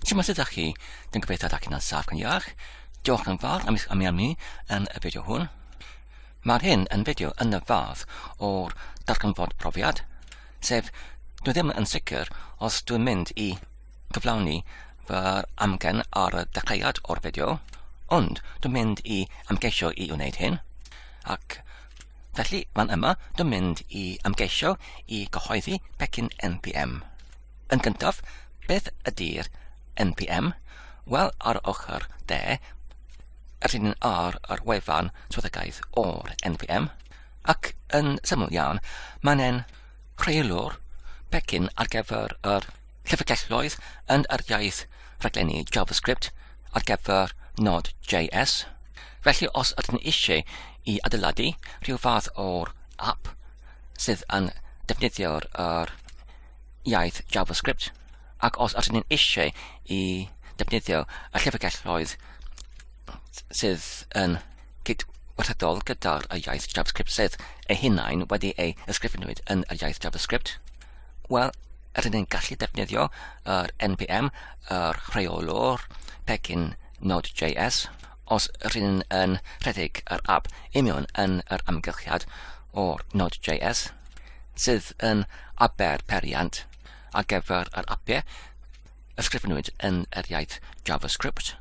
Siwmai sydd â chi, dwi'n gobeithio da chi'n ansaf gan iach. Diolch yn fawr am eich ymuno yn y fideo hwn. Mae hyn yn fideo yn y fath o'r darganfod profiad, sef dwi ddim yn sicr os dwi'n mynd i gyflawni fy amgen ar y dechreuad o'r fideo, ond dwi'n mynd i amgeisio i wneud hyn, ac Felly, fan yma, dwi'n mynd i ymgeisio i gyhoeddi pecyn NPM. Yn gyntaf, beth ydy'r NPM? Wel, ar ochr de, yr hyn ar yr wefan swyddogaeth o'r NPM, ac yn syml iawn, mae'n rheolwr pecyn ar gyfer yr llyfrgelloedd yn yr iaith rhaglenni JavaScript ar gyfer Node.js. Felly os ydyn ni eisiau i adeiladu rhyw fath o'r app sydd yn defnyddio'r er, iaith JavaScript, ac os ydyn ni'n eisiau i defnyddio y llyfrgelloedd sydd yn cydwerthydol gyda'r iaith JavaScript sydd ei hunain wedi ei ysgrifenwyd yn yr iaith JavaScript, wel, rydyn ni'n gallu defnyddio yr NPM, yr rheolwr pecyn Node.js, os rydyn ni'n yn rhedeg yr app imion yn yr amgylchiad o'r Node.js, sydd yn aber periant ar gyfer yr apiau ysgrifenwyd yn yr iaith JavaScript.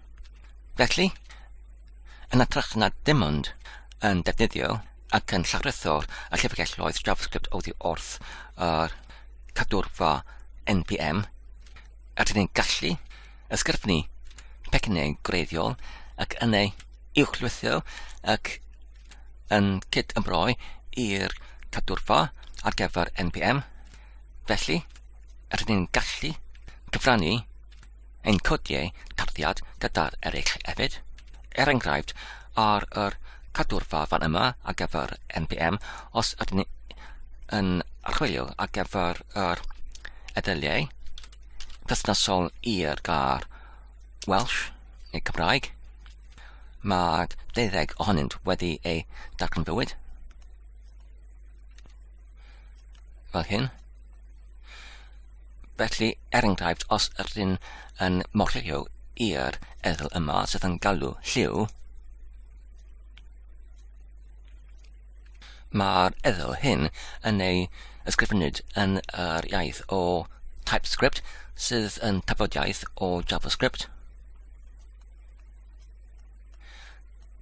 Felly, yn atrych na dim ond yn defnyddio ac yn llawrytho'r llyfrgelloedd JavaScript oddi wrth yr cadwrfa NPM, rydyn ni'n gallu ysgrifennu pecynnau gwreiddiol ac yn ei uwchlwytho ac yn cyd-ymroi i'r cadwrfa ar gyfer NPM. Felly, rydyn ni'n gallu cyfrannu Ein codiau tarddiad gyda'r eraill hefyd, er enghraifft ar yr cadwrfa fan yma ar gyfer NPM os ydyn ni yn archwilio ar gyfer yr eddyliau perthnasol i'r gair Welsh neu Cymraeg. Mae deuddeg ohonynt wedi eu darganfywyd. fel hyn. Felly, er enghraifft, os ydyn yn morio i'r erthygl yma sydd yn galw lliw, mae'r erthygl hyn yn ei ysgrifennud yn yr iaith o TypeScript sydd yn tafodiaith o JavaScript.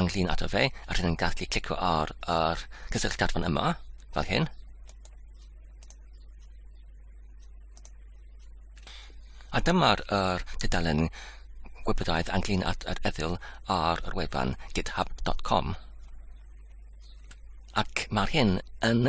ynglyn ato fe, a rydyn ni'n gallu clicio ar yr cysylltiad fan yma, fel hyn. A dyma'r er, dudalen gwybodaeth ynglyn at yr eddyl ar yr wefan github.com. Ac mae'r hyn yn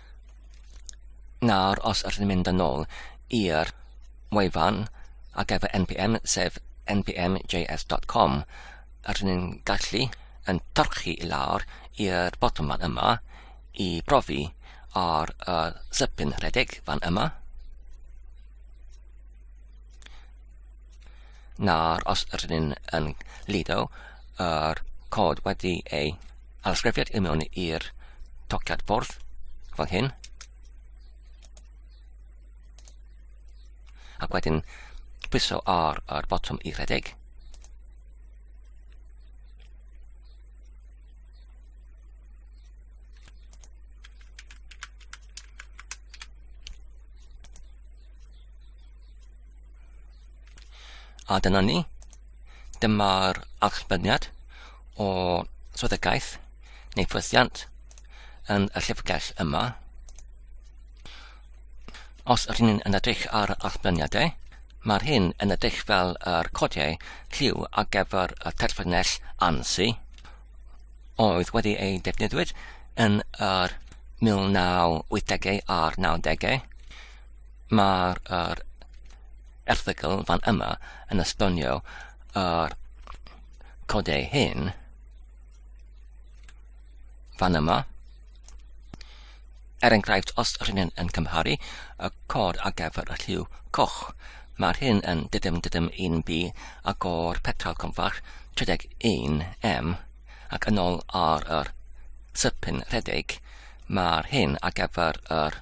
Nawr os ydyn ni'n mynd yn ôl i'r wefan ar gyfer npm sef npmjs.com ydyn ni'n gallu yn torchi i lawr i'r botwm fan yma i brofi ar y sypyn rhedeg fan yma Nawr, os rydyn ni'n yn lido yr cod wedi ei alysgrifiad i mewn i'r tociad bwrdd, fel hyn, ac wedyn pwyso ar yr botwm i redeg, A dyna ni. Dyma'r archmyniad o swyddogaeth neu ffwythiant yn y llyfrgell yma. Os ydyn ni'n yn edrych ar archmyniadau, mae'r hyn yn edrych fel yr codiau lliw ar gyfer y terfynell ANSI oedd wedi ei defnyddiwyd yn yr 1980au a'r 90au Mae'r er, erthygl fan yma yn esbonio yr codau hyn fan yma. Er enghraifft, os rydyn ni'n yn cymharu y cod ar gyfer y lliw coch, mae'r hyn yn dydym dydym 1B ac o'r petal confach 31M ac yn ôl ar yr sypyn rhedeg, mae'r hyn ar gyfer yr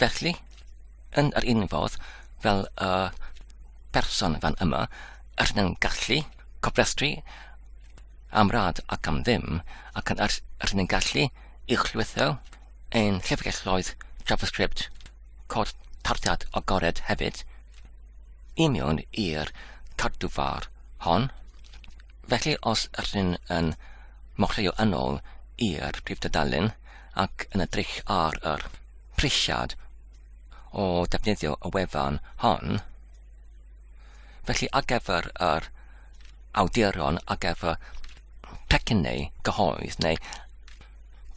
Felly, yn yr un fodd fel y person fan yma, yr yn gallu cofrestru am rad ac am ddim, ac yn yr, yr yn gallu i'ch llwytho ein llyfrgelloedd JavaScript cod tarddiad agored hefyd i mewn i'r cadwfar hon. Felly os rydyn yn mochleuo yn ôl i'r prif dudalen, ac yn edrych ar yr prisiad o ddefnyddio y wefan hon. Felly ar gyfer yr awduron ar gyfer pecyn neu gyhoedd neu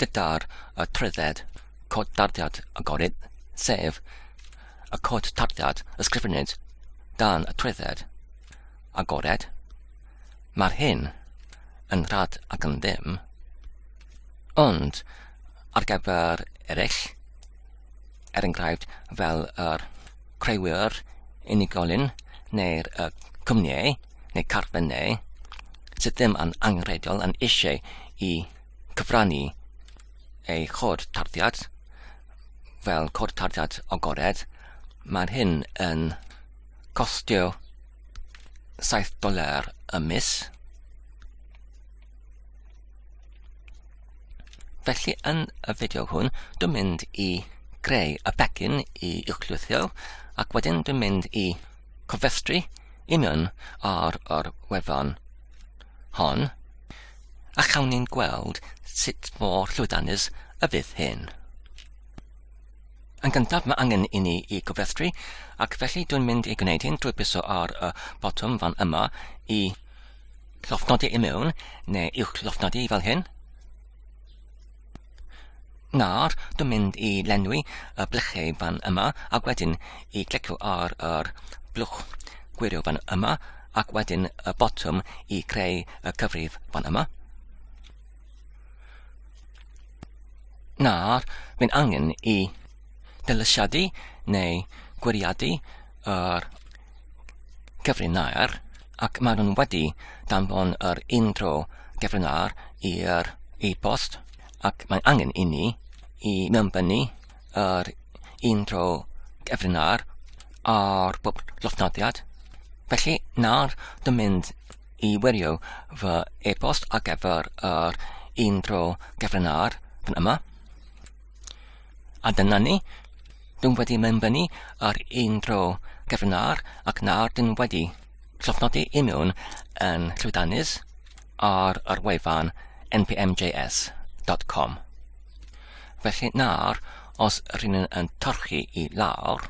gyda'r y trwydded cod tarddiad agored, sef y cod tarddiad ysgrifennid dan y trwydded agored, mae'r hyn yn rhad ac yn ddim. Ond, ar gyfer eraill, er enghraifft fel yr creuwyr unigolyn neu'r y cwmnïau neu carfennau sydd ddim yn angenrheidiol yn eisiau i cyfrannu eu cod tarddiad fel cod tarddiad agored, mae'r hyn yn costio 7 doler y mis. Felly yn y fideo hwn, dwi'n mynd i greu y begin i uwchlwythio ac wedyn dwi'n mynd i cofestru i mewn ar yr wefan hon a chawn ni'n gweld sut mor llwydanus y fydd hyn. Yn gyntaf mae angen i ni i gofestru ac felly dwi'n mynd i gwneud hyn drwy biso ar y botwm fan yma i llofnodi i mewn, neu uwch llofnodi fel hyn. Nawr, dwi'n mynd i lenwi y blychau fan yma, ac wedyn i glicio ar yr blwch gwirio fan yma, ac wedyn y botwm i greu y cyfrif fan yma. Nawr, mae'n angen i dylysiadu neu gwiriadu yr cyfrinair ac maen nhw'n wedi danfon yr intro cyfrinair i'r e-post ac mae'n angen i ni i mewnbynnu yr intro cyfrinair ar bob llofnodiad. Felly nawr dwi'n mynd i wirio fy e-post ar gyfer yr intro cyfrinair fan yma. A dyna ni. Dyn wedi mynd fyny ar un dro gefn ar ac nawr dyn wedi llofnodi i mewn yn llwydanus ar yr wefan npmjs.com. Felly nawr, os rydyn yn torchi i lawr,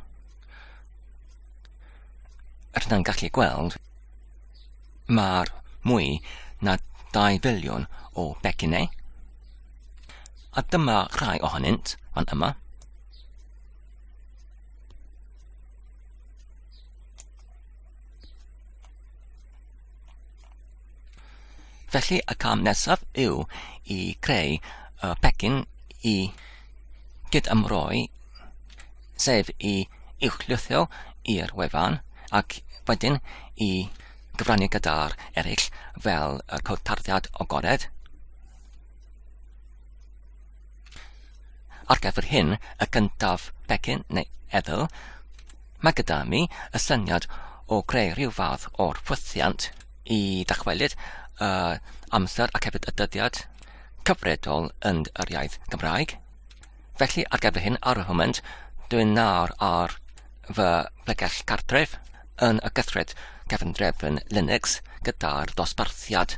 rydyn yn gallu gweld mae'r mwy na 2 filiwn o becinau A dyma rhai ohonynt fan yma. Felly y cam nesaf yw i creu y pecyn i gydymroi, sef i uwchlithio i'r wefan ac wedyn i gyfrannu gyda'r eraill fel y cod tarddiad agored. Ar gyfer hyn, y gyntaf, pecyn neu edl, mae gyda mi y syniad o greu rhyw fath o'r ffwythiant i ddychwelyd y amser ac hefyd y dyddiad cyfredol yn yr iaith Gymraeg. Felly ar gyfer hyn ar y hwment, dwi'n nawr ar fy plegell cartref yn y gythred cefndrefn Linux gyda'r dosbarthiad.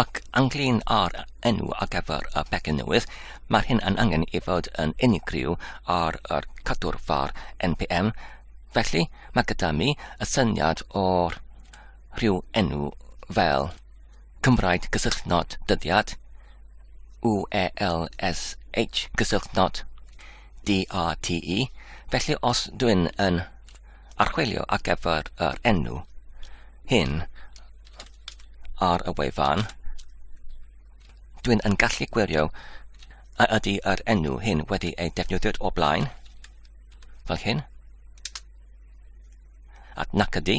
Ac ynglŷn â'r enw ar gyfer y pecyn newydd, mae'r hyn yn angen ei fod yn unigryw ar yr cadwr far npm, felly mae gyda mi y syniad o'r rhyw enw fel Cymraeg gysylltnod dyddiad, UELSH gysylltnod DATE, felly os dwi'n yn archwilio ar gyfer yr enw hyn, ar y wefan, dwi'n yn gallu gwirio a ydy yr enw hyn wedi ei defnyddio o blaen, fel hyn, ac nac ydy,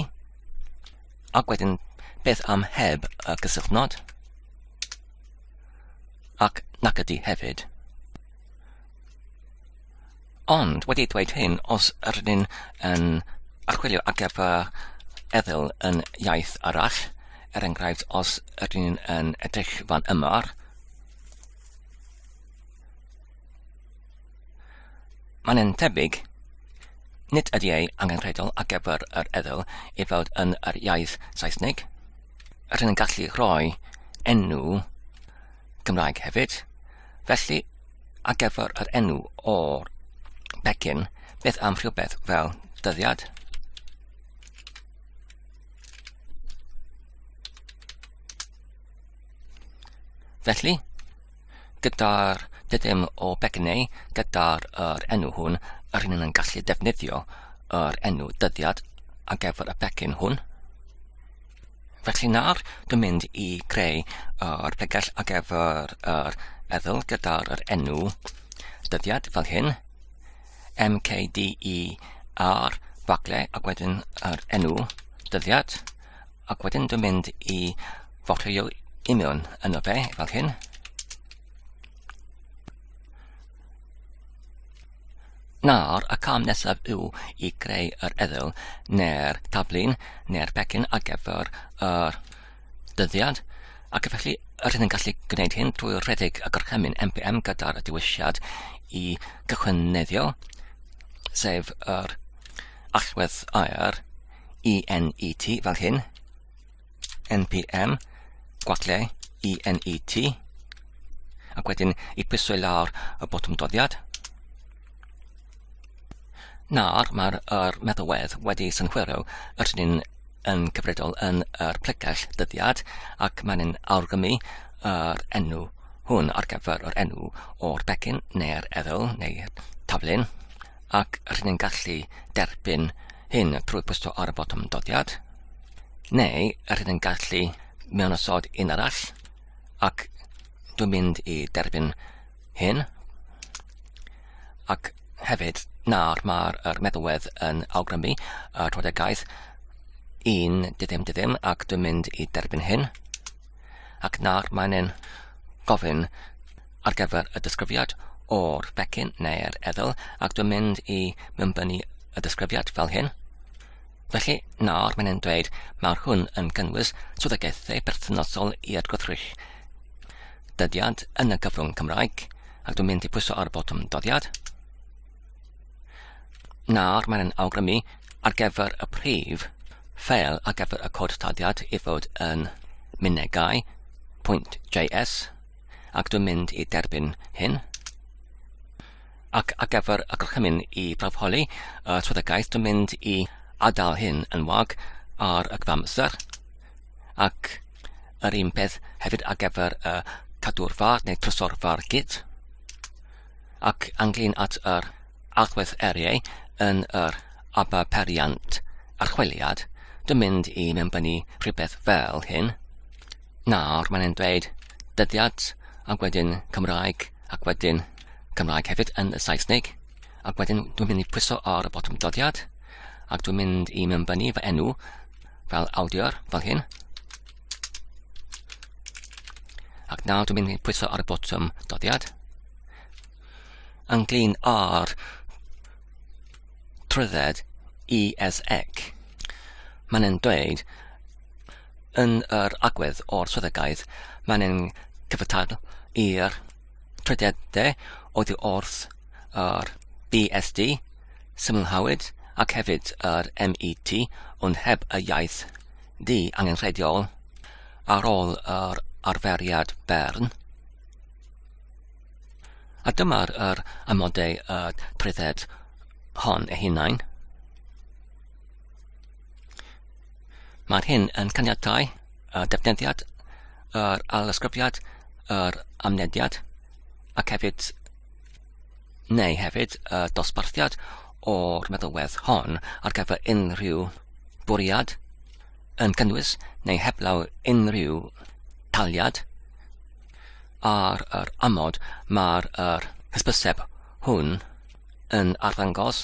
ac wedyn beth am heb y cysylltnod, ac nac ydy hefyd. Ond, wedi dweud hyn, os ydyn ni'n yn archwilio ar gyfer eddyl yn iaith arall, er enghraifft, os ydyn ni'n yn edrych fan yma, Mae'n yn tebyg, nid ydy ei angenrheidiol ar gyfer yr eddyl i fod yn yr iaith Saesnig. Rydyn yn gallu rhoi enw Cymraeg hefyd. Felly, ar gyfer yr enw o'r pecyn, beth am rhywbeth fel dyddiad? Felly, gyda'r dydym o becynnau, gyda'r er enw hwn, yr hyn yn gallu defnyddio yr enw dyddiad ar gyfer y pecyn hwn. Felly nawr, dwi'n mynd i greu yr pegell ar gyfer yr eddyl gyda'r er enw dyddiad fel hyn, MKDE ar bagle ac wedyn yr er enw dyddiad, ac wedyn dwi'n mynd i fotio imion yno fe fel hyn. Nawr, y cam nesaf yw i greu yr eddyl neu'r taflun neu'r pecyn ar gyfer yr dyddiad, ac felly rydyn ni'n gallu gwneud hyn drwy redeg y gorchymyn MPM gyda'r dewisiad i gychwyneddio, sef yr allwedd aer ENET fel hyn, npm gwacle i net ac wedyn i pwysau lawr y botwm doddiad. Nawr mae'r er meddalwedd wedi synhwyro yr hyn yn cyfredol yn yr plegell dyddiad ac mae'n awgrymu yr enw hwn ar gyfer yr enw o'r becyn neu'r eddyl neu'r taflun ac rydyn ni'n gallu derbyn hyn trwy pwyso ar y botwm doddiad. Neu, yr hyn yn gallu mewn osod un arall, ac dwi'n mynd i derbyn hyn, ac hefyd nawr mae'r er meddalwedd yn awgrymu y trodegaeth un dydym dydym ac dwi'n mynd i derbyn hyn. Ac nawr mae'n ein gofyn ar gyfer y disgrifiad o'r becyn neu'r eddyl ac dwi'n mynd i mynbynu y disgrifiad fel hyn. Felly, nawr mae'n e'n dweud mae'r hwn yn cynnwys swyddogaethau perthnasol i atgwrthrych dyddiad yn y gyfrwng Cymraeg, ac dwi'n mynd i pwyso ar y botwm dyddiad. Nawr mae'n awgrymu ar gyfer y prif ffeil ar gyfer y cod taddiad i fod yn mynegau pwynt JS ac dwi'n mynd i derbyn hyn. ac ar gyfer y gorchymyn i brawf holi y trwyddagaeth dwi'n mynd i adael hyn yn wag ar y cyfamser ac yr un peth hefyd ar gyfer y cadw'r far neu trysor far gyd ac anglyn at yr agwedd eriau yn yr aba periant archwiliad dwi'n mynd i mewnbynnu rhywbeth fel hyn Nawr mae'n dweud dyddiad ac wedyn Cymraeg ac wedyn Cymraeg hefyd yn y Saesneg ac wedyn dwi'n mynd i pwyso ar y botwm dyddiad ac dwi'n mynd i mewnbynnu fy enw fel awdur fel hyn ac nawr dwi'n mynd i pwyso ar y botwm dyddiad ynglyn â'r trwydded ESEC. Mae'n dweud Yn yr agwedd o'r swyddogaeth, mae'n ein cyfatebol i'r trwyddedau oddi wrth yr BSD, symlhawyd, ac hefyd yr MET, ond heb y iaith du angenrheidiol. Ar ôl yr arferiad Bern, a dyma'r yr amodau y trwydded hon ei hunain, Mae'r hyn yn caniatau y defnyddiad, yr alysgrifiad, yr amnediad, ac hefyd, neu hefyd, y dosbarthiad o'r meddylwedd hon ar gyfer unrhyw bwriad yn cynnwys neu heblaw unrhyw taliad ar yr amod mae'r hysbyseb hwn yn arddangos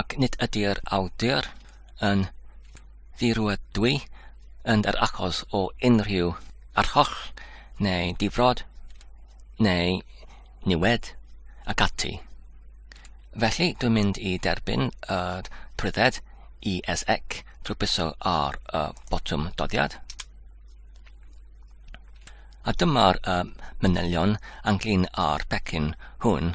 ac nid ydy'r awdur yn ddirwydwy yn yr achos o unrhyw arholl neu difrod neu niwed ac ati. Felly, dwi'n mynd i derbyn yr trwydded ESC drwy byso ar y botwm doddiad. A dyma'r uh, manylion ynglyn â'r pecyn hwn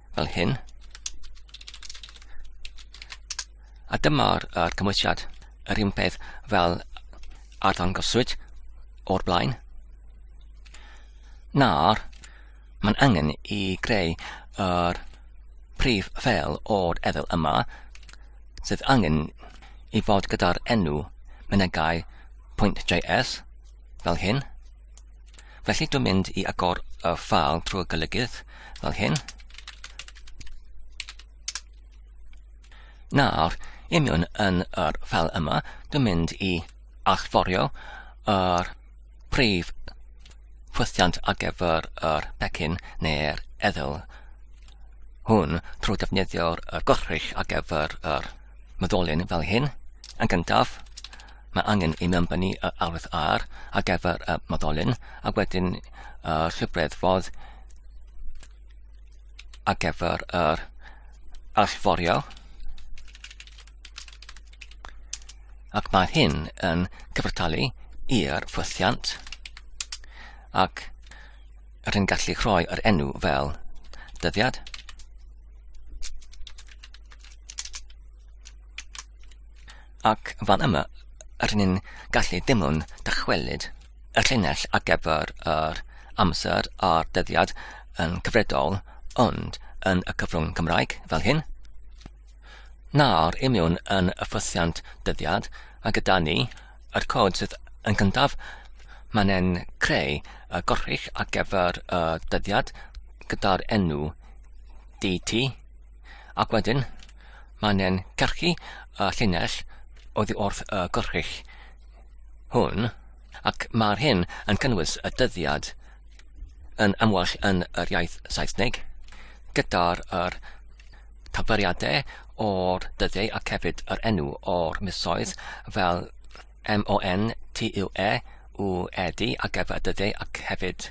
Fel hyn. A dyma'r er cymwysiad, yr un peth fel arddangoswyd o'r blaen. Nawr, mae'n angen i greu yr prif fel o'r efel yma, sydd angen i fod gyda'r enw mynegau.js fel hyn. Felly dwi'n mynd i agor y ffal trwy gylygydd fel hyn. Nawr, i mewn yn yr ffal yma, dwi'n mynd i allforio yr prif ffwythiant ar gyfer yr pecyn neu'r eddyl hwn trwy defnyddio'r gorchrych ar gyfer yr myddolyn fel hyn. Yn gyntaf, Mae angen i mewn fyny y arwydd ar ar gyfer y moddolyn a wedyn y llwybreddfodd ar gyfer yr allforio ac mae hyn yn cyfartalu i'r ffwythiant ac yr hyn gallu rhoi yr enw fel dyddiad. Ac fan yma rŷn ni'n gallu dim ond dychwelyd y llinell ar gyfer yr amser a'r dyddiad yn cyfredol, ond yn y cyfrwng Cymraeg, fel hyn. Nawr, i mewn yn y ffosiant dyddiad, a gyda ni, yr cod sydd yn gyntaf, mae'n e'n creu y gorrych ar gyfer y dyddiad gyda'r enw DT, Ac wedyn, mae'n e'n carchu y llinell oddi wrth y gwrchich hwn, ac mae'r hyn yn cynnwys y dyddiad yn amwell yn yr iaith Saesneg, gyda'r er taferiadau o'r dyddiau ac hefyd yr enw o'r misoedd fel M-O-N-T-U-E, u e d ar gyfer dyddiau ac hefyd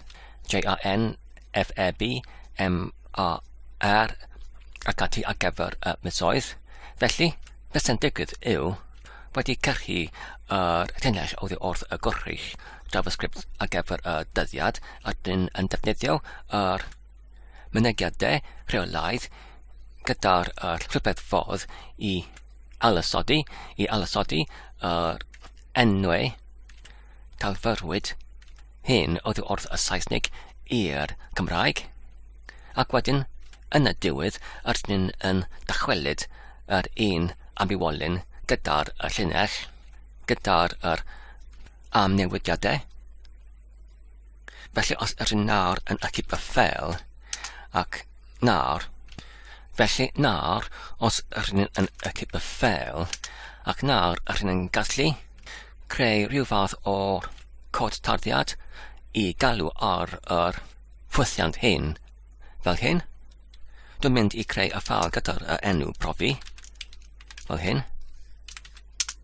J-A-N-F-E-B, M-A-R ac ati ar gyfer y misoedd. Felly, beth sy'n digwydd yw, wedi cyrchu yr llinell oddi wrth y gwrthrych JavaScript ar gyfer y dyddiad, a dyn yn defnyddio yr mynediad de rheolaidd gyda'r er, rhywbeth ffordd i alasodi, i alasodi yr enwau talfyrwyd hyn oedd wrth y Saesnig i'r Cymraeg, ac wedyn yn y diwedd yr ni'n yn dychwelyd yr un ambiwolyn gyda'r llinell, gyda'r er amnewidiadau. Felly os yr un nawr yn achub fy ffel, ac nawr, felly nawr os yr un yn achub fy ffel, ac nawr yr un yn gallu creu rhyw fath o cod tarddiad i galw ar yr ffwythiant hyn, fel hyn. Dwi'n mynd i creu y ffal gyda'r enw profi, fel hyn.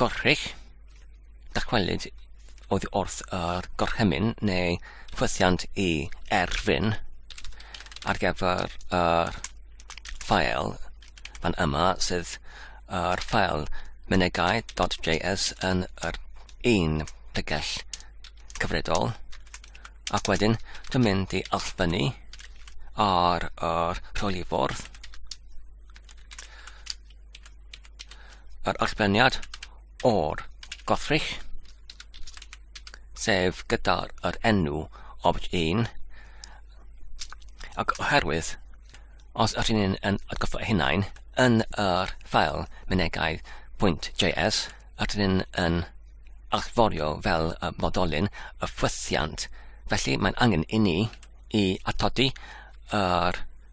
gorchudd, dychwelyd oddi wrth y gorchymyn neu ffwythiant i erfyn ar gyfer yr ffael fan yma sydd yr ffael mynegai.js yn yr un tegell cyfredol ac wedyn dwi'n mynd i allfynnu ar yr rhwylifordd yr allbeniad o'r gothrych, sef gyda'r yr enw opt 1, ac oherwydd, os ydyn ni'n yn atgoffa hunain, yn yr ffael mynegau.js, ydyn ni'n yn allforio fel y modolyn y ffwythiant. Felly mae'n angen i ni i atodi yr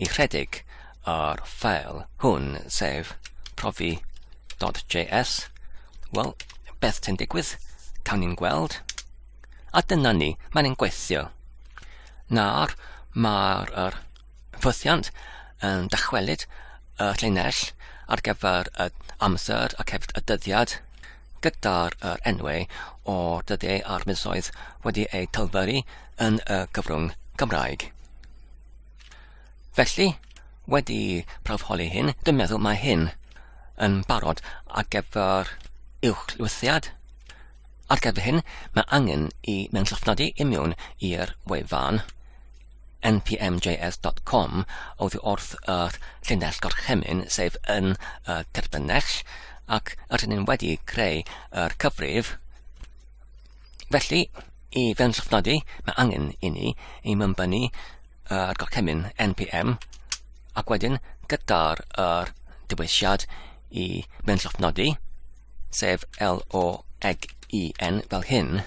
ychydig ar ffeil hwn, sef profi.js, wel, beth sy'n digwydd? Cawn ni'n gweld. A dyna ni, mae'n ein gweithio. Nawr, mae'r er, ffythiant yn dychwelyd y llinell ar gyfer y amser ac hefyd y dyddiad. gyda'r yr enwau o dyddiau a'r misoedd wedi eu talferu yn y gyfrwng Gymraeg. Felly, wedi prawfholi hyn, dwi'n meddwl mae hyn yn barod ar gyfer uwch lwythiad. Ar gyfer hyn, mae angen i mewn llofnodi i mewn i'r wefan npmjs.com oddi wrth yr llinell gorchymyn, sef yn y terbynnell, ac rydyn ni'n wedi creu yr cyfrif. Felly, i fewn llofnodi, mae angen i ni i mymbynnu yr gorchymyn npm, ac wedyn gyda'r yr dewisiad i mewn llofnodi, sef L-O-G-E-N fel hyn,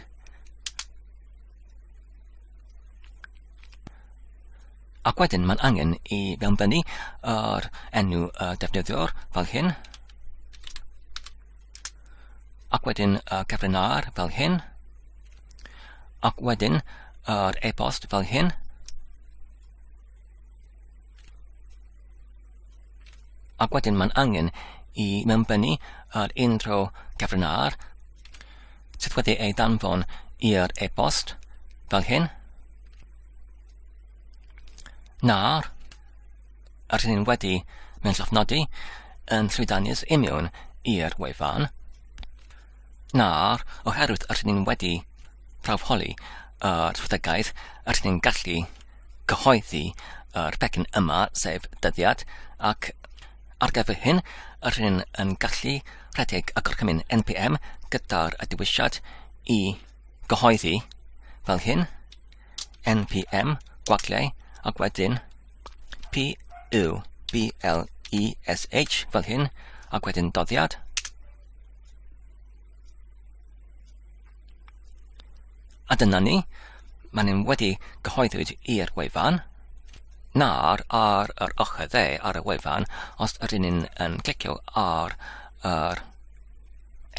Ac wedyn mae'n angen i fewnbynnu yr enw y defnyddiwr fel hyn. Ac wedyn y cyfrif ar fel hyn. Ac wedyn yr e-bost fel hyn. Ac wedyn mae'n angen i mewnbennu ar unrhyw gyfrinair sydd wedi ei danfon i'r e-bost fel hyn. Nawr, yr hyn wedi mynd llofnodi yn llwydanus imiwn i'r wefan. Nawr, oherwydd rydyn ni wedi prawfoli yr strategaeth, rydyn ni'n gallu cyhoeddi yr pecyn yma, sef dyddiad, ac ar gyfer hyn, rydyn ni yn gallu rhedeg y gorchymyn NPM gyda'r dewisiad i gyhoeddi fel hyn, NPM, gwagliau, ac wedyn P, U, B, L, E, S, H, fel hyn, ac wedyn doddiad, A dyna ni, mae nhw'n wedi cyhoeddwyd i'r wefan. Nawr, ar yr ochr dde ar y wefan, os ydyn ni'n um, clicio ar yr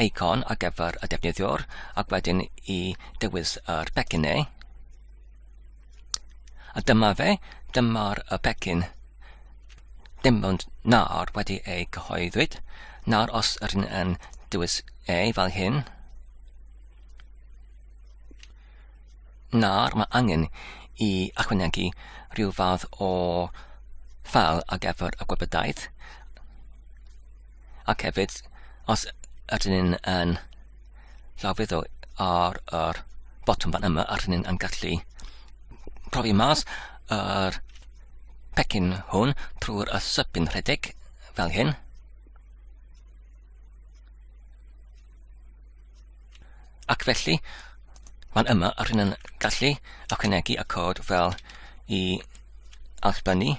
eicon ar gyfer y defnyddiwr ac wedyn i dewis yr pecyn neu, A dyma fe, dyma'r y pecyn. Dim ond nawr wedi ei gyhoeddwyd. Nawr os ydyn yn dewis e fel hyn. Nawr mae angen i achwanegu rhyw fath o ffal ar gyfer y gwybodaeth. ac hefyd os ydyn ni'n yn llawfeddo ar yr botwm fan yma a rydyn ni'n yn gallu profi mas yr pecyn hwn trwy'r ysybyn rhedeg fel hyn. Ac felly, mae'n yma a rhywun yn gallu ychwanegu y cod fel i allbynnu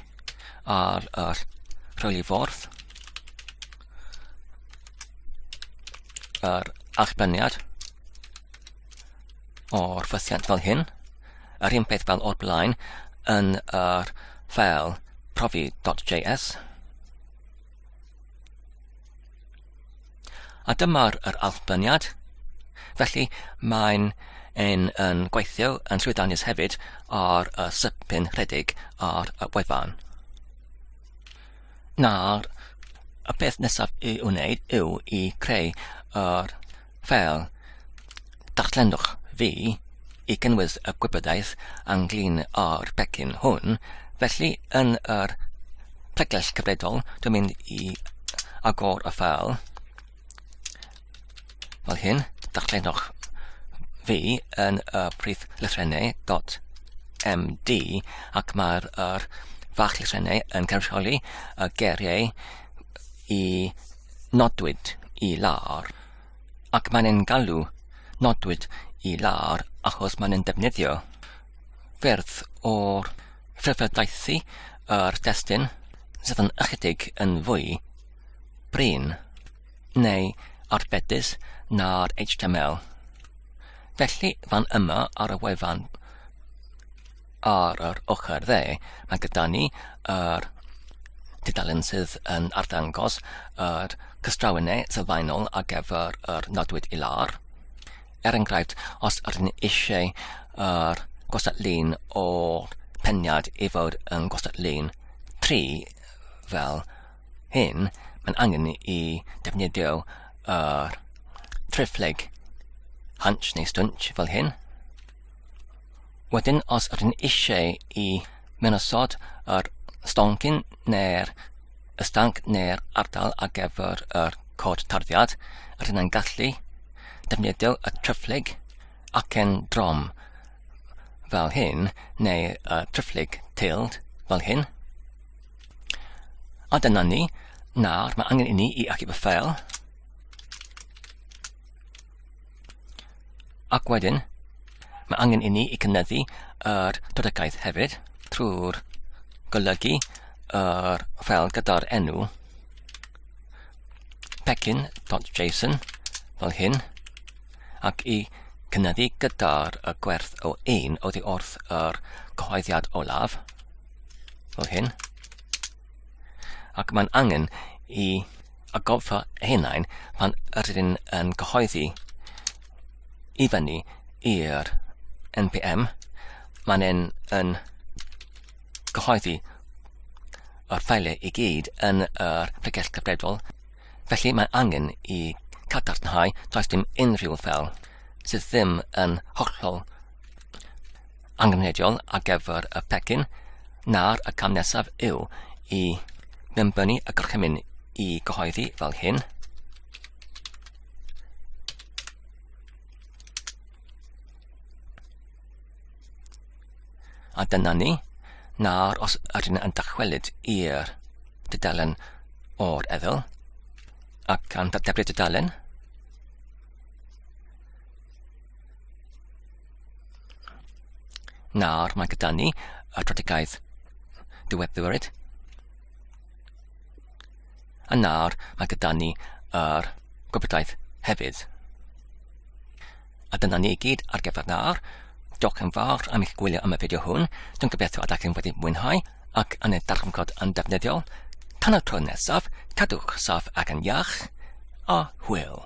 ar yr rhwylifordd, yr allbyniad o'r ffythiant fel hyn, yr un peth fel o'r blaen yn yr ffeil profi.js, A dyma'r yr allbyniad. Felly mae'n yn, yn gweithio yn llwyddiannus hefyd ar y sypyn rhedeg ar y wefan. Nawr, y peth nesaf i wneud yw i creu yr fel darllenwch fi i gynnwys y gwybodaeth anglyn o'r pecyn hwn, felly yn yr pregell cyfredol dwi'n mynd i agor y ffeil fel hyn, darllenwch fi yn y prif lythrennau dot MD ac mae'r er fach llysiennau yn cynrychioli y geiriau i nodwyd i lawr ac mae'n ein galw nodwyd i lawr achos mae'n ein defnyddio ffyrdd o'r ffurfiodaethu yr destun sydd yn ychydig yn fwy brin neu arbedus na'r HTML. Felly fan yma ar y wefan ar yr ochr dde, mae gyda ni yr tudalen sydd yn arddangos yr cystrawenau sylfaenol ar gyfer yr nodwyd i lawr. Er enghraifft, os ydyn ni eisiau yr gosod lun o peniad i fod yn gosod lun 3 fel hyn, mae'n angen ni i defnyddio yr trefleg hunch neu stunch fel hyn. Wedyn os ydyn eisiau i menosod yr stoncyn neu'r ystang neu'r ardal ar gyfer yr cod tarddiad, rydyn yn gallu defnyddio y tryfflyg acen drom fel hyn neu y tryfflyg teiled fel hyn. A dyna ni. Nawr mae angen i ni i achub y ffeil. Ac wedyn, mae angen i ni i cynyddu yr dodegaidd hefyd trwy'r golygu yr ffel gyda'r enw pecyn.json fel hyn ac i cynyddu gyda'r y gwerth o un oddi wrth yr cyhoeddiad olaf fel hyn ac mae'n angen i a gofio hunain pan ydyn yn cyhoeddi i fyny i'r NPM, mae'n yn, yn cyhoeddi yr ffeiliau i gyd yn yr pregell cyfredol, felly mae angen i cadarnhau does dim unrhyw fel sydd ddim yn hollol angenrheidiol ar gyfer y pecyn na'r y cam nesaf yw i mewnbynnu y gorchymyn i gyhoeddi fel hyn. A dyna ni. Nawr, os ydyn yn dychwelyd i'r dudalen o'r eddyl, ac gan dateblu dudalen, Nawr mae gyda ni y strategaeth diweddiwyd. A nawr mae gyda ni yr gwybodaeth hefyd. A dyna ni i gyd ar gyfer nawr. Diolch yn fawr am eich gwylio am y fideo hwn. Dwi'n gobeithio ydych chi'n wedi mwynhau ac yn ei darganfod yn defnyddiol. Tan y tro nesaf, cadwch saff ac yn iach, a hwyl.